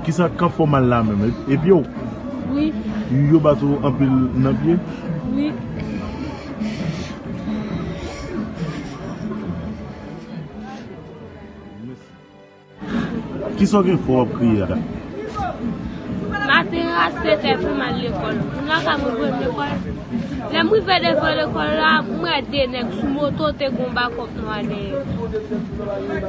Kisa kap fè w mal la menm? E pye w? Wi. Yo bat ou anpil nan pye? Wi. Kisa w gen fè w ap kriye a? Maten an a 7 è pou m al lekòl. Moun la ka mwen jwenn lekòl. Lè m rive devan lekòl la, m wè 2 nèg sou moto te gen yon bakòp nwa dèyè yo.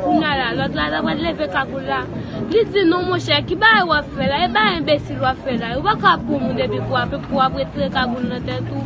Kounya la, lòt la ta pral leve kagoul la, li di non monchè ki bagay w ap fè la, e bagay enbesil w ap fè la. Ou pa ka ap pran moun epi pou w ap ret trè kagoul nan tèt ou.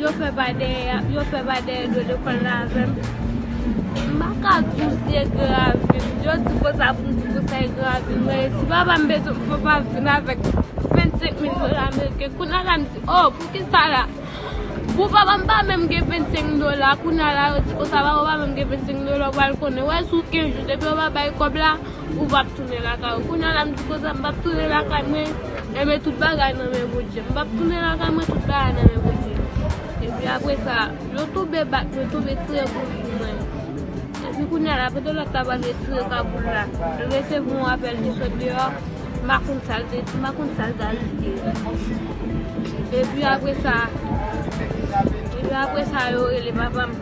Yo fè bay dèyè a, yo fè bay dèyè do lekòl la avè m. M pa ka di w si e grav vin. Yo di konsa pou m di konsa e grav vin. Mwen resi. Papa m bezwen pou papa m vin avèk 25 mil dola ameriken. Kounye la m di, o, pou ki sa la? Pou papa m pa menm gen 25 mil dola. Kounye la yo di konsa, papa w pa menm gen 25 mil dola. Ou pral konnen. Wè si w gen jou, depi yo pa bay kòb la. Ou pap tounen lakay ou Kounye a la m di konsa m pap tounen lakay mwen Enben tout bagay nan men Bondye M pap tounen lakay mwen Tout bagay nan men Bondye Epi apre sa Yo tonbe bat mwen Tonbe tire kout sou mwen Epi kounye a la Kote lòt ta pral retire kagoul la L resevwa yon apèl Li sot deyò M pa konn sa l te di M pa konn sa l ta rive Epi apre sa Epi apre sa Yo rele papa m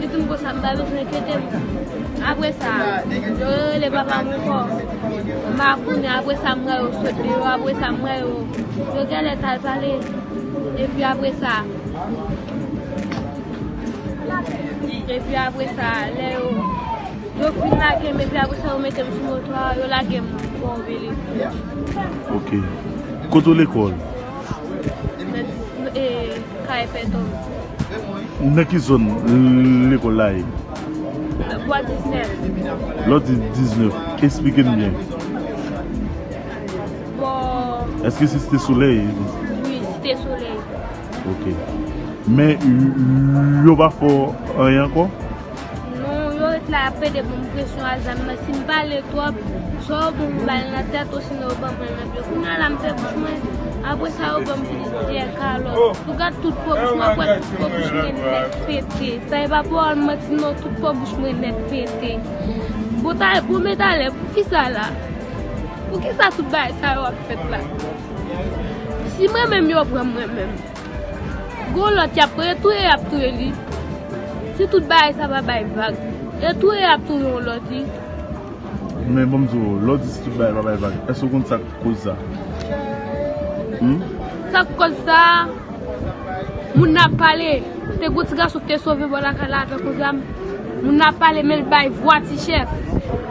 Li fin konsa m pa bezwen enkyete m. Apre sa, yo rerele papa m ankò. M pa konnen, apre sa m wè yo sot deyò, apre sa m wè yo, yo genlè t al pale. Epi apre sa, epi apre sa, lè yo, yo fin lage m epi apre sa yo mete m sou moto a, yo lage m bò Obelisque. Ok. Kote w lekòl? Mèt, ee, Kay Pè Tòm. Nan ki zòn lekòl la ye? Lwa 19. Lwa 19. Esplike m byen. Bon. Èske se Site Solèy? Wi, Site Solèy. Ok. Men, yo pa fè w anyen ankò? Non yo ret la yap pede banm presyon a zam nan sim pale trop swa yo pou m bal nan tèt osinon yo banm nan pye kounya la m fè bouch mwen apre sa yo banm plizyè kalòt ou gad tout po bouch mwen ou kwè tout po bouch mwen nèt pete sa e pa pawòl manti non tout po bouch mwen nèt pete bon ta bon men talè poukisa la poukisa tout bagay sa yo ap fèt la si mwen menm yo pranm mwen menm. Gon lòt yap touye, touye yap touye li, si tout bagay sa pa bay vag, e touye yap touye yon lòt li. Men banm di w, lè w di si tout bagay pa bay vag, èske w konn sak koz sa? Humm. Sak koz sa, moun nan ap pale, te gon ti gason ki te sove bò lakay la avèk yon zam, moun nan ap pale men l bay vwa ti chèf.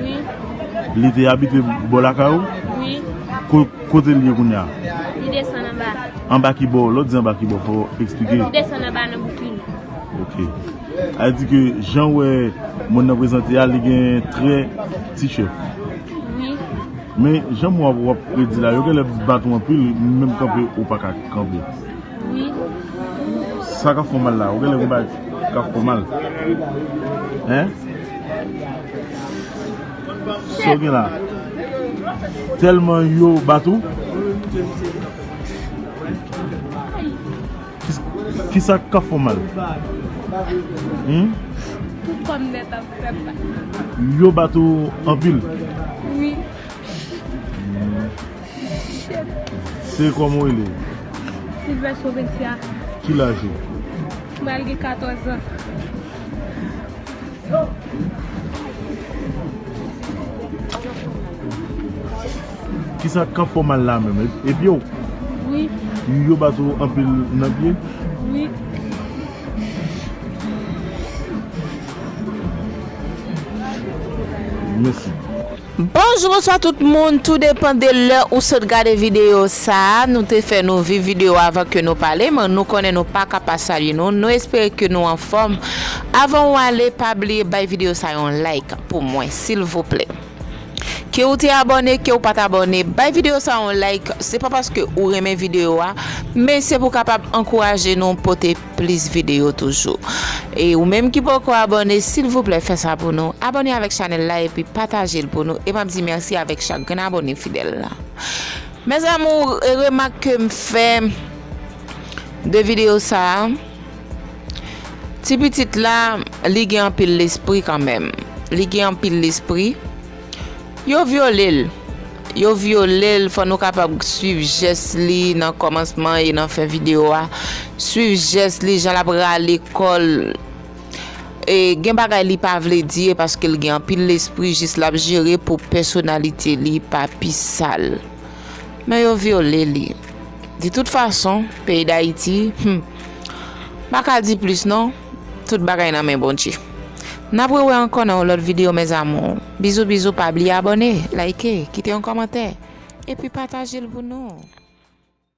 Wi. Li te abite bò lakay ou? Wi. Kote li ye kounye a? Li desann anba. Anba ki bò? Lè w di anba ki bò, fò w esplike. Li desann anba nan bouki li. Ok. Al di ke jan w wè moun nan prezante a, li gen trè ti chèf. Wi. Men, jan mou a w ap di la, yo genlè bat ou anpil, menm kanpe ou pa ka kanpe. Sa kap fèw mal la ou genlè gen bagay kap fèw mal hein Saw gen la Telman yo bat ou Kisa kap fèw mal Humm Tout kòm nèt ap fè mal Yo bat ou anpil Wi. Se kòman ou rele? Silvès Robinsia. Ki laj ou? M pral gen 14 ans. Kisa k ka fè w mal la menm? E pye w? Wi. Yo bat ou anpil nan pye? Wi. Mèsi. Bonjou bonswa tout moun tou depan de lè ou sot gade video sa nou te fè nou viv video avan ke nou pale m'en nou konnen nou paka pa salye nou nou espere ke nou anfòm avan ou ale pa bliye bay video sa yon like pou mwen silvouplè ke ou te abòne ke ou pat abòne bay video sa yon like se pa paske ou renmen video a men se pou kapab ankouraje nou pote plis video toujou e ou menm ki poko abone silvouplè fè sa pou nou abone avèk chanèl la epi patajel pou nou e map di mèsi avèk chak grenn abone fidèl la mes amour e remak kem fè de video sa ti pitit la li gen anpil lespri kanmenm li gen anpil lespri Yo vyole l. Yo vyole l, fò nou kapab swiv jès li nan kòmansman e nan fen videyo a. Swiv jès li, jan l ap rale kò l. E gen bagay li pa vle di e paske l gen anpil lespri jis l ap jere pou pèsonalite li pa pi sal. Men yo vyole li. Di tout fason, peyi Dayiti, humm, m pa ka di plis non. Tout bagay nan men Bondye. Nap re wè ankò nan yon lòt video mes amours. Bizou bizou pa bliye abòne, like, kite yon kòmantè epi patajel pou nou.